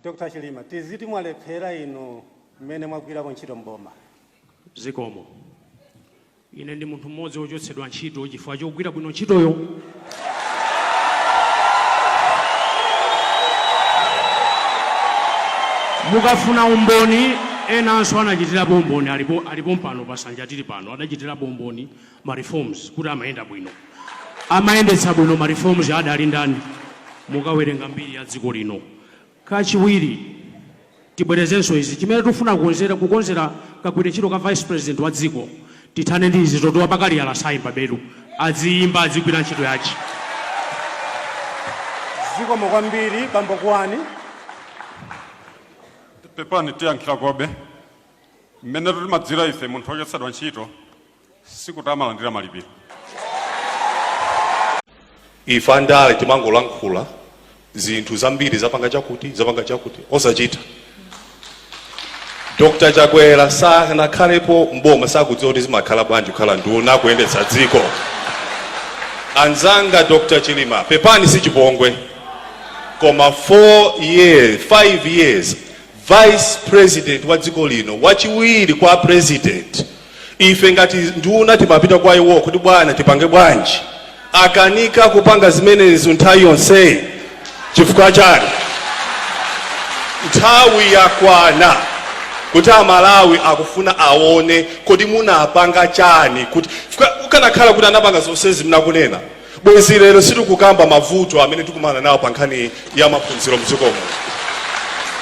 Dr Chilima tiziti mwalephera inu mmene mwagwirapo ntchito m'boma? Zikomo. Ine ndi munthu mmodzi wochotsedwa ntchito chifukwa chogwira bwino ntchitoyo. Mukafuna umboni, enanso anachitirapo umboni, alipo pompano pasanja tili pano, adachitirapo umboni. ma reforms kuti amayenda bwino amayendetsa bwino ma reforms adali ndani mukawerenga mbiri ya dziko lino kachiwiri tibwerezenso izi chimene tikufuna kukonzera kagwiridwe ntchito ka vice president wa dziko tithane ndi izi zoti wa pakaliyala sayimba belu adziyimba adzigwira ntchito yake zikomo kwambiri bambo kuwani pepani tiyankhirekobe mmene timadziwira ife munthu wochotsedwa ntchito sikuti amalandira malipiro ife andale timangolankhula zinthu zambiri zapanga chakuti zapanga chakuti osachita dr chakwera sanakhalepo mboma sakudziwa kuti zimakhala bwanji kukhala nduna kuyendetsa dziko anzanga dr chilima pepani si chipongwe koma 5 years vice president wa dziko lino wachiwiri kwa president Ife ngati nduna timapita kwa iwo kodi bwana tipange bwanji? Akanika kupanga zimenezo nthawi yonseyi chifukwa chani? Nthawi yakwana kuti a Malawi akufuna awone kodi munapanga chani kuti chifukwa akanakhala kuti anapanga zonsezi mmene akunena bwenzi lero sitikukamba mavuto amene tikumana nawo pa nkhani ya maphunziro mdziko muno.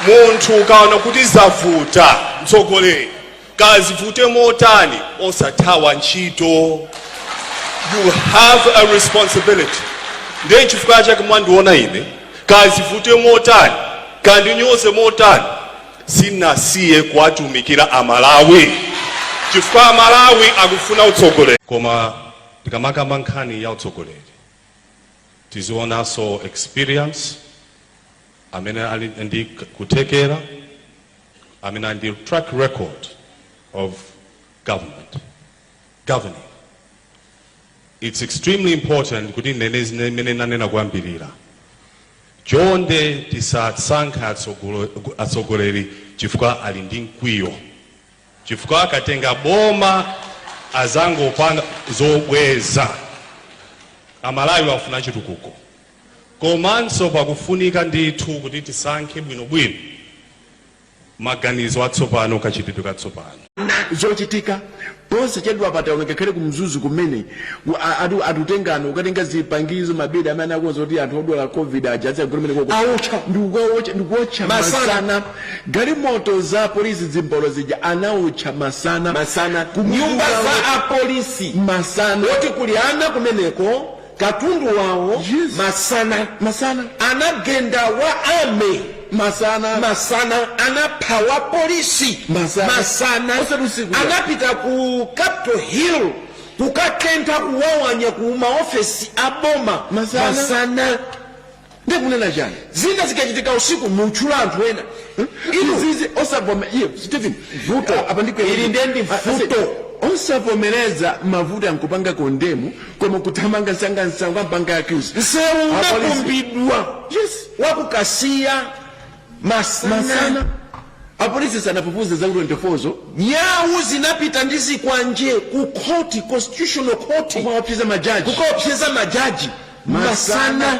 Munthu ukaona kuti zavuta mtsogoleri. Kaya zivute motani osathawa ntchito. You have a responsibility. Ndiye nchifukwa chake mwandiona ine, kaya zivute motani, kaya andinyoze motani, sinasiye kuwatumikira Amalawi chifukwa Amalawi akufuna utsogoleri. Koma tikamakamba nkhani ya utsogoleri tiziwonanso experience amene ali ndi kuthekera I mean, and the track record of government, governing. It's extremely important kuti nene zine- mene nanena koyambirira chonde tisasankhe atsogolo- atsogoleri chifukwa ali ndi mkwiyo chifukwa akatenga boma azangopanga zobweza amalawi afuna chitukuko Komanso pakufunika ndithu kuti tisankhe bwinobwino maganizo atsopano, kachitidwe katsopano. Zochitika, Posachedwapa taona ngakhale ku Mzuzu kumene anthu anatengana kukatenga zipangizo, mabedi amene anakonza kuti anthu odwala Covid aja adzikagona kumeneko aotcha ndi kukaotcha ndi kuotcha masana. Galimoto za apolisi zimbolo zija anaotcha masana. Masana. Nyumba za apolisi masana. Poti kuli ana kumeneko. katundu wawo Yes. masana masana anagenda wa army masana masana anapha wa polisi Masana. masana Osati usiku. anapita ku capital hill kukatentha kuphwanya ku maofesi a boma Masana. masana ndiye kunena chani zina zikachitika usiku mukutchula anthu ena inu izizi osavome iye stephen vuto apa ndiko ili ndiye ndi vuto osavomereza mavuto n'kupanga condemn koma kuthamanga msangamsanga n'kupanga accuse msewu Apolisi. unakumbidwa Yes. wakukasiya masana apolisi sanafufuze za 24 zo nyau zinapita ndi zikwanje ku khoti constitutional court kukaopseza majaji kukaopseza majaji masana